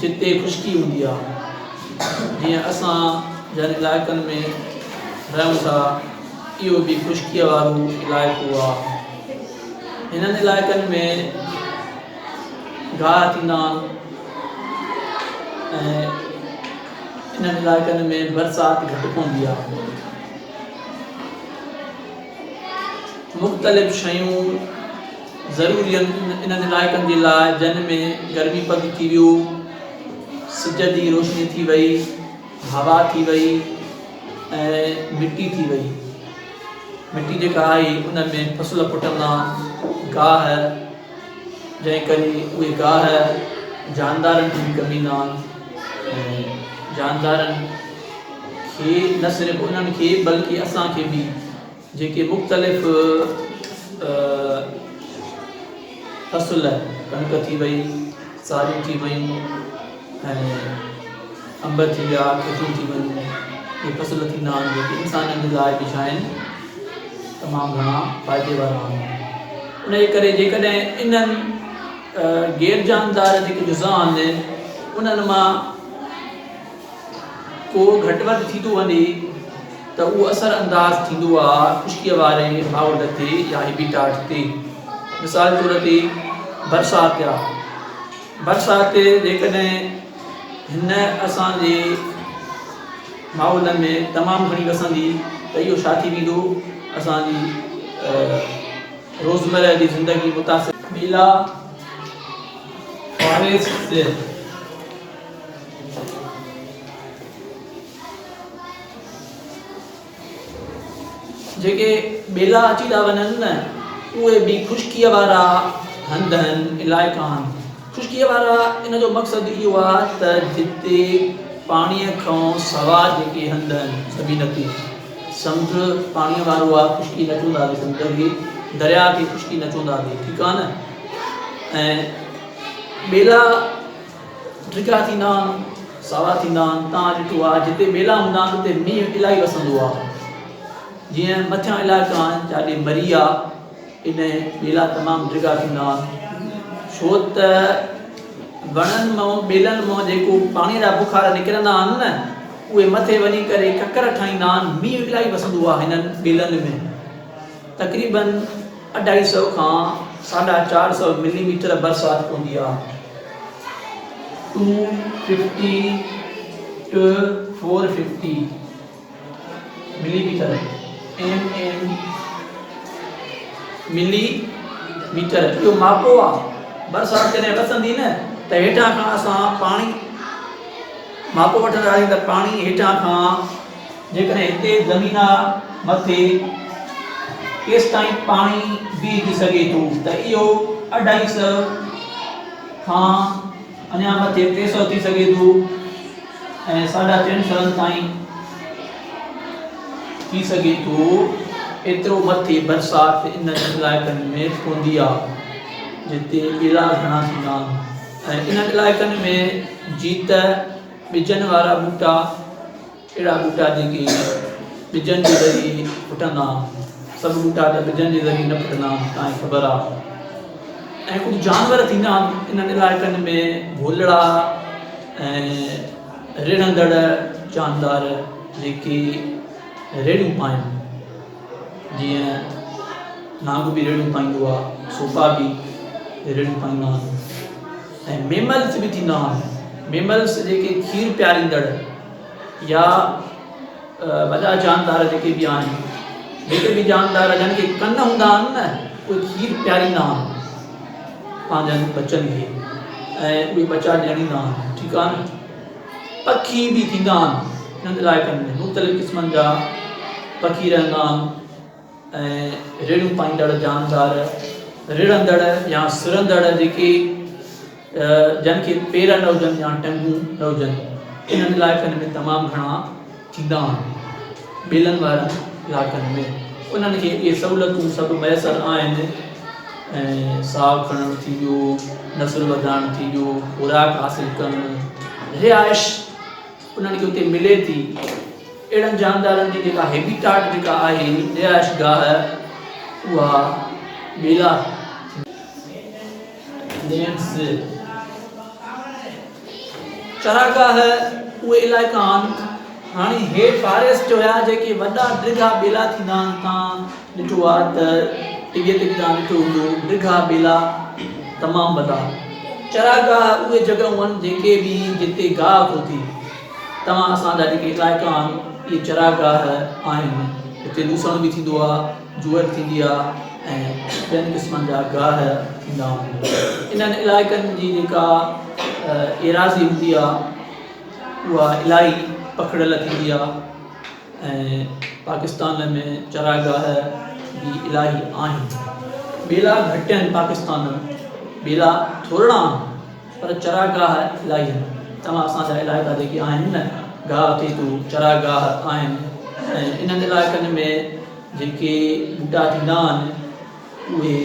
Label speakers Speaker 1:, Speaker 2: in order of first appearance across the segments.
Speaker 1: جتي خشڪي هوندي آ جيئن اسان جن علائقن ۾ رهيون ٿا اهو به خشڪيء وارو علائقو آ هنن علائقن ۾ گاهه ٿيندا آهن ۽ انهن علائقن ۾ برسات گهٽ پوندي آ مختلف شيون ضرورين انهن علائقن جي لاء جن ۾ گرمي پد ٿي ويو، سج جي روشني ٿي وئي، هوا ٿي وئي ۽ مٽي ٿي وئي. مٽي جيڪا آهي ان ۾ فصل پٽندا گاهه جنهن ڪري اهي گاهه جاندارن کي به ڪم ايندا ۽ جاندارن کي نه صرف انهن کي بلڪه اسان کي به جيڪي مختلف فصل ڪڻڪ ٿي وئي ساريون ٿي ويون ۽ انب ٿي ويا کجور ٿي ويون اهي فصل ٿيندا آهن جيڪي انسانن جي لاء به شاين تمام گهڻا فائدي وارا آهن ان جي ڪري جيڪڏهن انهن غير جاندار جيڪي جزا آهن انهن مان ڪو گهٽ وڌ ٿيندو وڃي ته اهو اثر انداز ٿيندو آهي خشڪيء واري ماحول تي يا هيبيٽاٽ تي. مثال طور تي برسات يا برسات جيڪڏهن هن اسان جي ماحولن ۾ تمام گهڻي وسندي ته اهو ڇا ٿي ويندو اسان جي روزمره جي زندگي متاثر ٻيلا فاريسٽس جيڪي ٻيلا اچي ٿا وڃن نه اهي به خشڪيء وارا هنڌ آهن علائقا آهن خشڪيء وارا ان جو مقصد اهو آهي ته جتي پاڻيء کان سوا جيڪي هنڌ آهن زمين تي سمنڊ پاڻيء وارو آهي خشڪي نه چوندا آهي سمنڊ کي درياء کي خشڪي نه چوندا آهي ٺيڪ آهي نه ۽ ٻيلا ڊگها ٿيندا آهن، ساوا ٿيندا آهن، توهان ڏٺو آهي جتي ٻيلا هوندا آهن اتي مينهن الائي وسندو آهي، جيئن مٿيان علائقا آهن جاڏي مري آهي ان ٻيلا تمام ڊگها ٿيندا آهن ڇو ته وڻن مان ٻيلن مان جيڪو پاڻي جا بخار نڪرندا آهن نه اهي مٿي وڃي ڪري ڪڪر ٺاهيندا آهن، مينهن الائي وسندو آهي هنن ٻيلن ۾. تقريبن اڍائي سئو کان ساڍا چار سئو ملي ميٽر برسات پوندي آ. Two fifty to four fifty millimetre, MM، millimetre, اهو ماپو آ. برسات جڏهن وسندي نه ته هيٺان کان اسان پاڻي ماپو وٺندا آهيون ته پاڻي هيٺان کان جيڪڏهن هتي زمينا مٿي ڪيستائين پاڻي بيهجي سگهي ٿو ته اهو اڍائي سئو کان اڃا مٿي ٽي سئو ٿي سگهي ٿو ۽ ساڍا ٽن سئن تائين ٿي سگهي ٿو ايترو مٿي برسات انهن علائقن ۾ پوندي آهي جتي ٻيلا گهڻا ٿيندا آهن ۽ انهن علائقن ۾ جيت ٻجن وارا ٻوٽا، اهڙا ٻوٽا جيڪي ٻجن جي ذريعي ڦٽندا آهن. سڀ ٻوٽا ته ٻجن جي ذريعي نه ڦٽندا آهن، تانئين خبر آهي. ۽ ڪجهه جانور ٿيندا آهن، انهن علائقن ۾ ڀولڙا ۽ رڙهندڙ جاندار جيڪي ريڙهيون پائن، جيئن نانگ به ريڙهيون پائيندو آهي، سوپا به ريڙهيون پائيندا آهن. ۽ ميملز به ٿيندا آهن ميملز جيڪي کير پياريندڙ يا وڏا جاندار جيڪي به آهن جيڪي به جاندار جن کي ڪن هوندا آهن نه اهي کير پياريندا آهن پنهنجن ٻچن کي ۽ اهي ٻچا ڄڻيندا آهن ٺيڪ آهن پکي به ٿيندا آهن انهن علائقن ۾ مختلف قسمن جا پکي رهندا آهن ۽ ريڙهيون پائيندڙ جاندار، رڙندڙ يا سرندڙ جيڪي جن کي پير نه هجن يا ٽنگون نه هجن انهن علائقن ۾ تمام گهڻا ٿيندا آهن. ٻيلن وارن علائقن ۾ انهن کي اهي سهولتون سڀ ميسر آهن ۽ ساهه کڻڻ ٿي ويو، نسل وڌائڻ ٿي ويو، خوراڪ حاصل ڪرڻ، رهائش، انهن کي اتي ملي ٿي. اهڙن جاندارن جي جيڪا هيبيٽاٽ جيڪا آهي رهائش گاهه اها ٻيلا، نيڊز، چراگاهه اهي علائقا آهن هاڻي هي فاريسٽ هيا جيڪي وڏا ڊگها ٻيلا ٿيندا آهن تان ڏٺو آ ته ڊگهي ڊگهي تان ڏٺو هوندو ڊگها ٻيلا تمام وڏا چراگاهه اهي جڳهون آهن جيڪي به جتي گاهه کوتي توهان اسان جا جيڪي علائقا آهن اهي چراگاهه آهن هتي لوسڻ به ٿيندو آهي جوئر ٿيندي آهي ۽ ٻين قسمن جا گاهه ٿيندا آهن انهن علائقن جي جيڪا ايراضي هوندي آهي اها الاهي پکڙيل ٿيندي آهي ۽ پاڪستان ۾ چراگاهه به الاهي آهن. ٻيلا گهٽين پاڪستان م ٻيلا ٿورڙا آهن پر چراگاهه الاهي آهن توهان اسان جا علائقا جيڪي آهن نه گاهه ٿيتو چراگاهه آهن ۽ انهن علائقن ۾ جيڪي ٻوٽا ٿيندا آهن اهي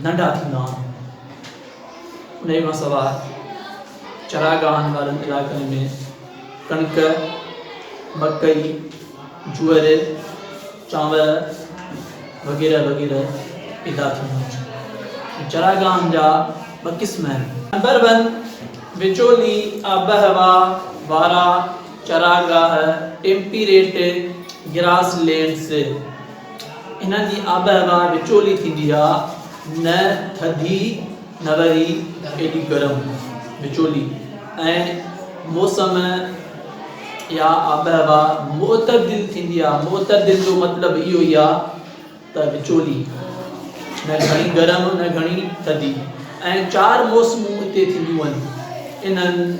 Speaker 1: ننڍا ٿيندا آهن. انهيء کان سواء چراگاهن وارن علائقن ۾ ڪڻڪ، مڪئي، جوئر، چانور وغيره وغيره پيدا ٿيون آهن. چراگاهن جا ٻه قسم آهن. نمبر ون، وچولي آبهوا وارا چراگاهه، Temperate Grasslands. انهن جي آبهوا وچولي ٿيندي آ، نه ٿڌي نه وري ايڏي گرم، وچولي ۽ موسم يا آبهوا معتدل ٿيندي آ، معتدل جو مطلب اهو ئي آ ته وچولي، نه گهڻي گرم نه گهڻي ٿڌي ۽ چار موسمون اتي ٿينديون آهن، انهن.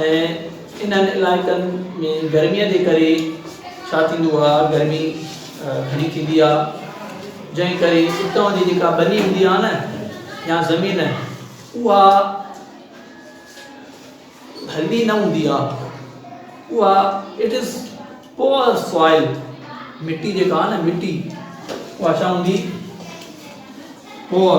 Speaker 1: ۽ انهن علائقن ۾ گرمي جي ڪري ڇا ٿيندو آ گرمي گهڻي ٿيندي آ جنهن ڪري اتان جي جيڪا ٻني هوندي آ نه يا زمين اها هلدي نه هوندي آ اها اٽ از پور سوائل مٽي جيڪا آ نه مٽي اها ڇا هوندي پور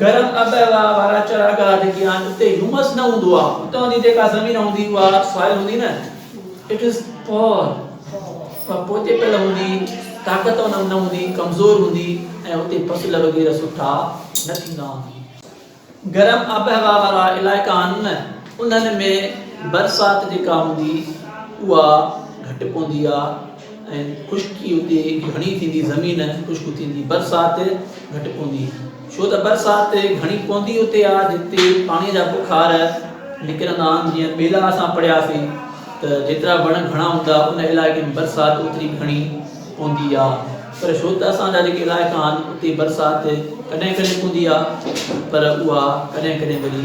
Speaker 1: گرم آب و هوا وارا چراگاهه جيڪي آهن اتي هيومس نه هوندو آهي اتان جي جيڪا زمين هوندي اها سوائل هوندي نه اٽ از پور اها پوچي پيل هوندي طاقت ان نه هوندي ڪمزور هوندي ۽ اتي فصل وغيره سٺا نه ٿيندا آهن گرم آب و هوا وارا علائقا آهن نه انهن ۾ برسات جيڪا هوندي اها گهٽ پوندي آهي ۽ خشڪي اتي گهڻي ٿيندي زمين خشڪ ٿيندي برسات گهٽ پوندي ڇو ته برسات گهڻي پوندي اتي آ جتي پاڻي جا بخار نڪرندا آهن جيئن پيلا اسان پڙهياسين ته جيترا وڻ گهڻا هوندا ان علائقي ۾ برسات اوتري گهڻي پوندي آ پر ڇو ته اسان جا جيڪي علائقا آهن اتي برسات ڪڏهن ڪڏهن پوندي آ پر اها ڪڏهن ڪڏهن وري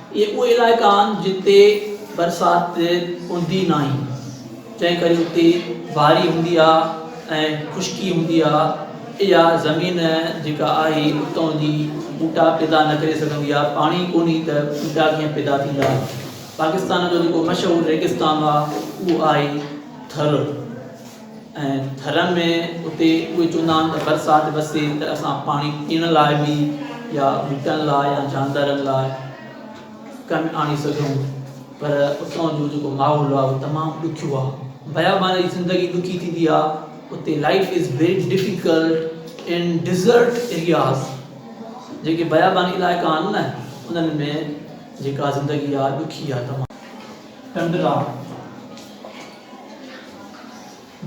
Speaker 1: اهي اهي علائقا آهن جتي برسات هوندي ناهي جنهن ڪري اتي باري هوندي آ ۽ خشڪي هوندي آ اها زمين جيڪا آهي اتون جي ٻوٽا پيدا نه ڪري سگهندي آ پاڻي ڪونهي ته ٻوٽا ڪيئن پيدا ٿيندا پاڪستان جو جيڪو مشهور ريگستان آ اهو آهي ٿر ۽ ٿرن ۾ اتي اهي چوندا آهن ته برسات وسي ته اسان پاڻي پيئڻ لاء به يا ٻوٽن لاء يا جاندارن لاء ڪم آڻي سگهون پر اتان جو جيڪو ماحول آهي تمام ڏکيو آهي بيابان جي زندگي ڏکي ٿيندي آهي اتي life is very difficult in desert areas جيڪي بياباني علائقا آهن نه انهن ۾ جيڪا زندگي آهي ڏکي آهي تمام ٽنڊرا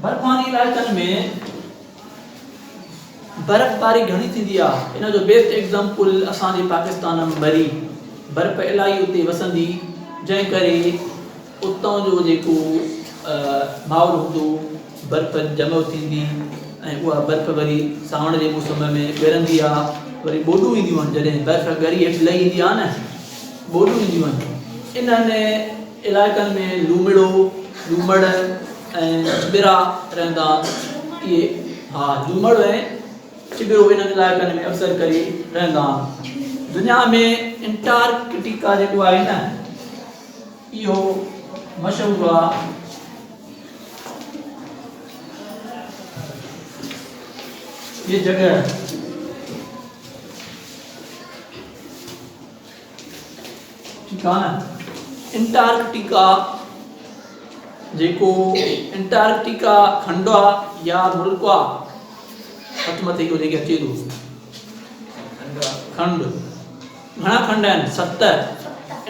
Speaker 1: برفاني علائقن ۾ برفباري گهڻي ٿيندي آ ان جو بيسٽ ايگزامپل اسان جي پاڪستان م بري برف الائي اتي وسندي جنهن ڪري اتان جو جيڪو ماحول هوندو برف جمع ٿيندي ۽ اها برف وري ساوڻ جي موسم ۾ ڳرندي آ وري ٻوڏون اينديون آهن جڏهن برف ڳري هيٺ لهي ايندي آ نه ٻوڏون اينديون آهن انهن علائقن ۾ لومڙو، لومڙ ۽ چٻرا رهندا اهي ها. لومڙ ۽ چٻرو انهن علائقن ۾ اڪثر ڪري رهندا آهن. دنيا ۾ انٽارڪٽيڪا جيڪو آهي نه اهو مشهور آهي هي جڳهه. انٽارڪٽيڪا، جيڪو انٽارڪٽيڪا کنڊوا يا ملڪوا هٿ مٿي اهو جيڪي اچي ٿو کنڊ گهڻا کنڊ آهن ست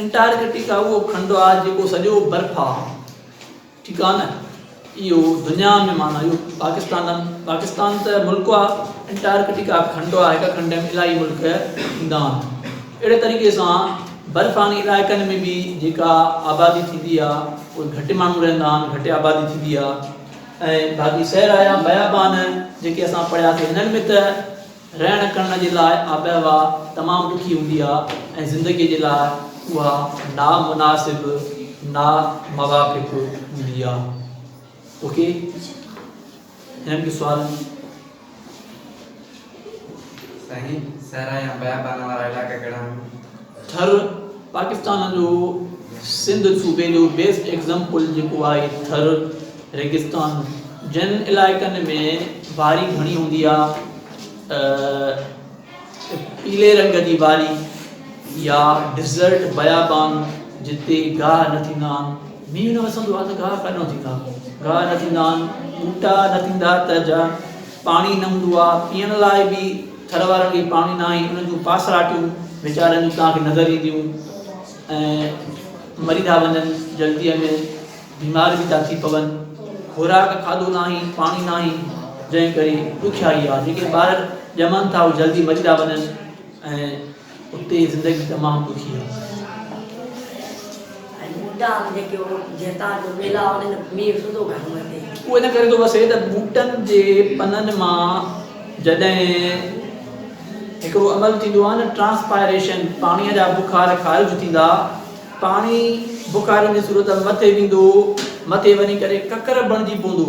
Speaker 1: انٽارڪٽيڪا اهو کنڊوا جيڪو سڄو برف آهي ٺيڪ آ نه اهو دنيا ۾ معنيٰ اهو پاڪستان ڏانهن پاڪستان ته ملڪ آ انٽارڪٽيڪا به کنڊ آ هڪ کنڊ ۾ الائي ملڪ ايندا آهن اهڙي طريقي سان برفاني علائقن ۾ به جيڪا آبادي ٿيندي آ اهي گهٽ ماڻهو رهندا آهن گهٽ آبادي ٿيندي آ ۽ باقي صحرا يا بيابان جيڪي اسان پڙهياسي هنن ۾ ته رهڻ ڪرڻ جي لاء آبهوا تمام ڏکي هوندي آهي ۽ زندگي جي لاء اها نا مناسب نا موافق هوندي آهي اوڪي هن جو سوال
Speaker 2: سائين سهرا يا بيابان وارا علائقا ڪهڙا آهن؟ ٿر،
Speaker 1: پاڪستان جو سنڌ صوبي جو بيسٽ ايگزامپل جيڪو آهي ٿر ريگستان جن علائقن ۾ باري گهڻي هوندي آ ته پيلي رنگ جي باري يا ڊيزرٽ بيابان جتي گاهه نه ٿيندا آهن مينهن نه وسندو آ ته گاهه ڪڏهن ٿيندا گاهه نه ٿيندا آهن ٻوٽا نه ٿيندا ته جا پاڻي نه هوندو آ پيئڻ لاء به ٿر وارن کي پاڻي ناهي ان جون پاسراٽيون ويچارن جون توهان کي نظر اينديون ۽ مري ٿا وڃن جلديء ۾ بيمار به ٿا ٿي پون خوراڪ کاڌو ناهي پاڻي ناهي جنهن ڪري ڏکيائي آ جيڪي ٻار ڄمن ٿا اهي جلدي مري ٿا وڃن ۽ اتي جي زندگي تمام ڏکي آهي ۽ ٻوٽا به جيڪي هو جتان جو ٻيلا هوندا آهن مينهن سڌو گهر ۾ تي اهو ان ڪري ٿو وسي ته ٻوٽن جي پنن مان جڏهن هڪڙو عمل ٿيندو آهي نه ٽرانسپائريشن پاڻي جا بخار خارج ٿيندا پاڻي بخارن جي صورت مٿي ويندو مٿي وڃي ڪري ڪڪر بڻجي پوندو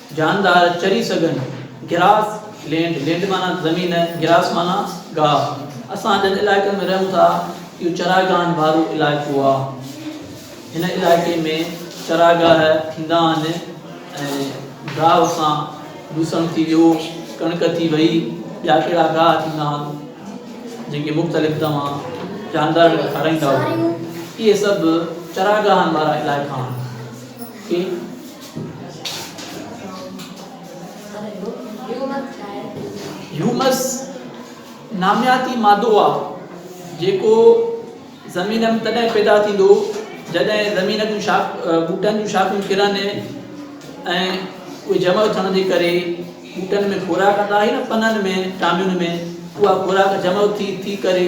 Speaker 1: جاندار چري سگهن. گراس لينڊ، Land، معنيٰ زمين، گراس معنيٰ گاهه. اسان جن علائقن ۾ رهون ٿا، اهو چراگاهن وارو علائقو آهي. هن علائقي ۾ چراگاهه ٿيندا آهن ۽ گاهه سان لوسڻ ٿي ويو، ڪڻڪ ٿي وئي، ٻيا ڪهڙا گاهه ٿيندا آهن، جن کي مختلف توهان جاندارن کي کارائيندا آهيو، اهي سڀ چراگاهن وارا علائقا آهن. هيومس نامياتي مادو آ جيڪو زمين ۾ تڏهن پيدا ٿيندو جڏهن زمين جون شاخ ٻوٽن جون شاخون ڪرن ۽ اهي جمع ٿيڻ جي ڪري ٻوٽن ۾ خوراڪ ڪندا آهي نه پنن ۾ ٽامين ۾ اها خوراڪ جمع ٿي ٿي ڪري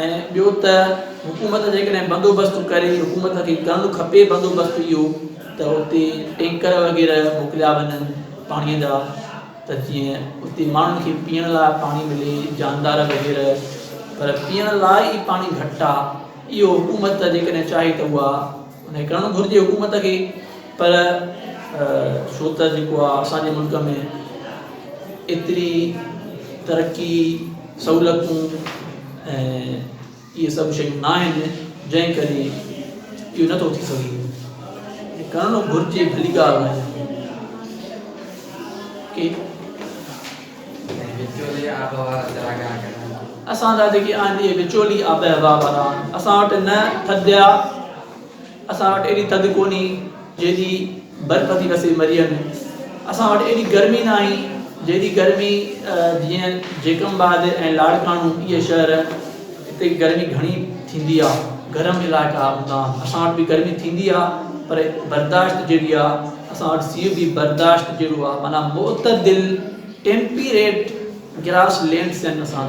Speaker 1: ۽ ٻيو ته حڪومت جيڪڏهن بندوبست ڪري، حڪومت کي ڪرڻ کپي بندوبست اهو ته اتي ٽينڪر وغيره موڪليا وڃن پاڻي جا ته جيئن اتي ماڻهن کي پيئڻ لاء پاڻي ملي جاندار وغيره پر پيئڻ لاء ئي پاڻي گهٽ آهي اهو حڪومت جيڪڏهن چاهي ته اها ائين ڪرڻ گهرجي حڪومت کي پر ڇو ته جيڪو آ اسان جي ملڪ ۾ ايتري ترقي سهولتون ۽ اهي سڀ شيون نه آهن جنهن ڪري اهو نٿو ٿي سگهي ڪرڻ گهرجي ڀلي ڳالهه آهي ۽ وچولي آبهوا جاڳا ڪرڻ. اسان جا جيڪي آهن اهي وچولي آبهوا وارا آهن اسان وٽ نه ٿڌ آ اسان وٽ ايڏي ٿڌ ڪونهي جيڏي برف ٿي وسي مريء ۾ اسان وٽ ايڏي گرمي ناهي جيڏي گرمي جيئن جيڪم آباد ۽ لاڙڪاڻو اهي شهر اتي گرمي گهڻي ٿيندي آ گرم علائقا هوندا آهن اسان وٽ به گرمي ٿيندي آ پر برداشت جيڏي آ اسان وٽ سيء به برداشت جهڙو آهي معنيٰ معتدل ٽيمپيريٽ گراس لينڊ سين اسان وٽ آهي.